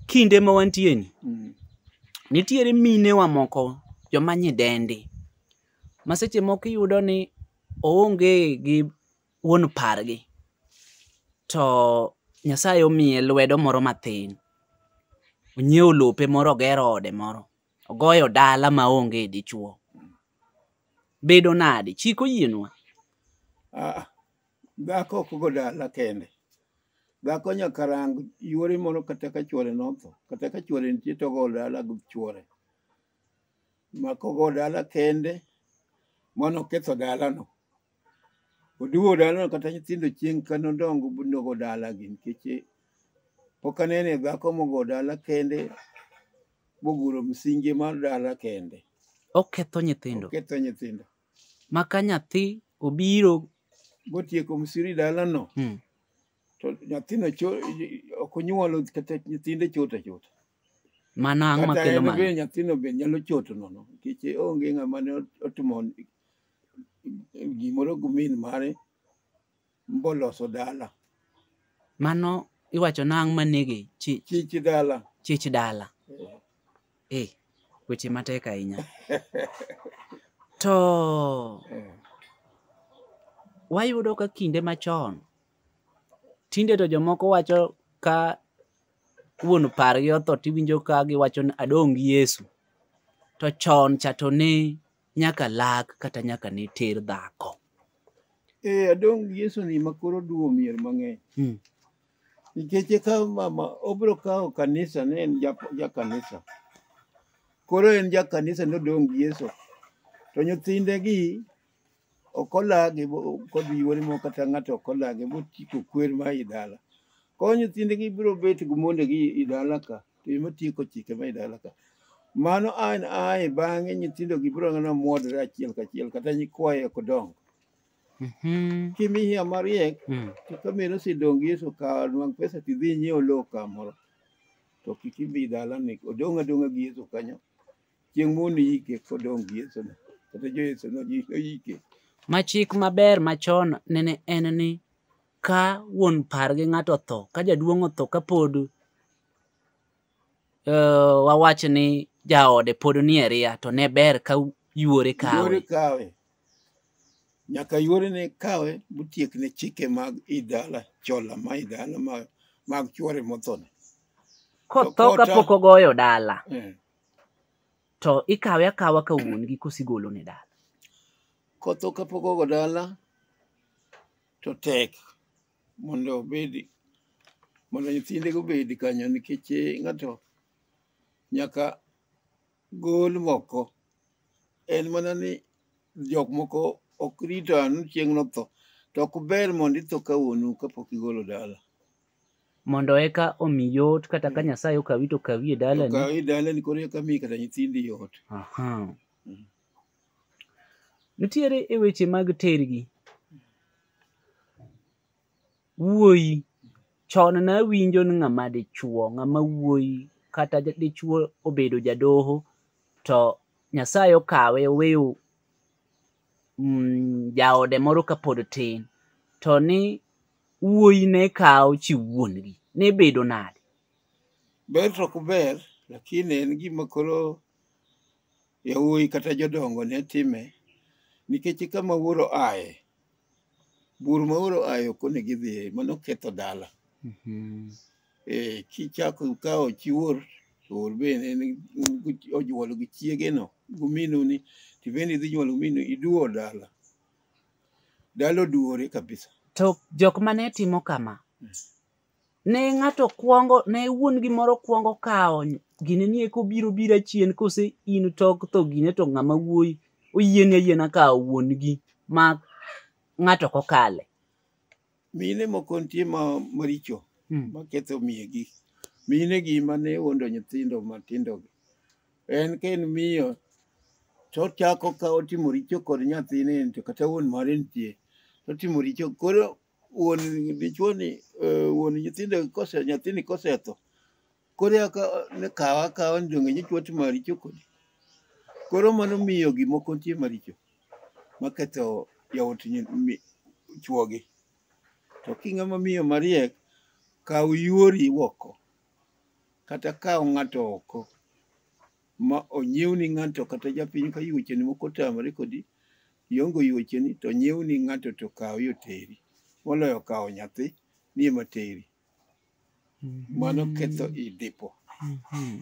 kinde ma wantie ni Mm. nitiere minewa moko joma nyidendi ma seche moko iyudo ni oonge gi wuon pargi to nyasaye omiye lwedo moro matin onyiewo lope moro ogero ode moro ogoyo dala ma onge dichuo bedo nade chik oyienwa Ah, Dhako ok go dala kende. Dhako nyaka rang yuore moro kata ka chuore notho. Kata ka chuore nitie to ogo dala gi chuore. Mak ogo dala kende mano ketho dalano. Oduwo dalano kata nyithindo chieng' ka nodongo nogo dalagi nikech eh, pok anene dhako mogo dala kende moguro msinje mar dala kende. Oketho nyithindo. Ketho nyithindo. ma ka nyathi obiro motieko msiri dalano mm, to nyathino cho- ok onyuolo kata nyithinde chot achota mano ang' kata makelo en mano be nyathino be nyalo choto nono nikech onge ng'ama ne otimo gimoro gi min mare mboloso dala mano iwacho nang' manege chi- chich dala chich dala Eh, eh weche matek ahinya to eh, wayudo ka kinde machon tinde to jomoko wacho ka wuon pargi otho tiwinjo ka giwacho ni adong' gi yesu to chon cha to ne nyaka lak kata nyaka ne ter dhako. Eh, adong' Yesu ni ma koro duwo mier mang'eny. Mm. Nikech eka mama obiro kawo kanisa ne en ja, ja kanisa. Koro en ja kanisa nodong' gi Yesu. To nyithinde gi ok olagi bo- kod yuore moko kata ng'ato ok olagi bochiko kwer ma i dala. Koro nyithinde gi biro bet gi monde gi i dala ka. to ema tieko chike ma idala ka mano an ae bang'e nyithindo gi biro ng'ana mwodre achiel kachiel kata nyikwaye ok dongo Mhm. kimiya mariek Mm. to ka meno sidong yeso ka nwang pesa tidhi nyiewo lowo kamoro to kik ibi dala ni odong' adong'a gi yeso kanyo chieng' mondo iyike kodong' gi yeso no kata jo yeso no ji- oyike Ma chik maber machon nene en ni ka wuon par gi ng'ato otho ka jaduong' otho ka pod uh, wawach ni jaode pod nie ria to ne ber ka yuore kawe yuore kawe nyaka yuore ne kawe mutiek ne chike mag idala chola ma idala mag, mag chuore mothone kotho ka pok ogoyo dala eh. to ikawe akawa ka wuon gi kosigolo ne dala kotho ka pok ogo dala to tek mondo obedi mondo nyithindego obed kanyo nikech eh, ng'ato nyaka gol moko en mana ni jok moko ok rito anu chieng' notho to ok ber mondo itho ka wuonu kapok igolo dala mondo eka omi yot kata ka nyasaye okawi to okawi e dalani okawi dalani koro eka miyi kata nyithindi yot Aha. nitiere e weche mag tergi wuoyi chon ne awinjo ni ng'ama dichuo ng'ama wuoyi kata ja- dichuo obedo jadoho to nyasaye okawe oweyo mm, jaode moro kapod tin to ni wuoyi ne kawo chi wuongi ne bedo nade ber to ok ber lakini en gima koro yawuoyi kata jodongo ne time nikech kama wuoro aye bur ma wuoro aye ok onego idhiye mano ketho dala Mhm. Eh, kichako kawo chi wuor to wuor bende en gi- onyuolo gi chiegeno guminu ni to bende idhi nyuolo guminu iduwo dala dala oduwore kabisa To jok mane timo kama, ne ng'ato kwongo ne wuon gi moro kwongo kawo gine ni eko biro bira chien kose in tok tho gine to ng'ama wuoyi oyieni ayiena kawo wuon gi ma ng'ato kokale mine moko nitie ma maricho hmm. maketho miye gi mine gi mane wuondo nyithindo matindo gi en ka en miyo to ochako ka otimo richo kod nyathine to kata wuon mare nitie to otimo richo koro wuon dichuoni eh, wuon nyithindo kose nyathini kosetho koro eka ne kawa akawa ni donge nyichwa timo maricho kodi koro mano miyo gimoko nitie maricho maketho yawuot nyi- mi- chwogi to king'ama miyo mariek kaw yuori oko kata kaw ng'ato oko ma onyiewni ng'ato kata japiny ka yuocheni moko otamore kodi Iongo yuocheni to nyiew ni ng'ato to kawo yo teri. Moloyo kawo nyathi ni ema teri. Mano ketho i dipo. Mhm.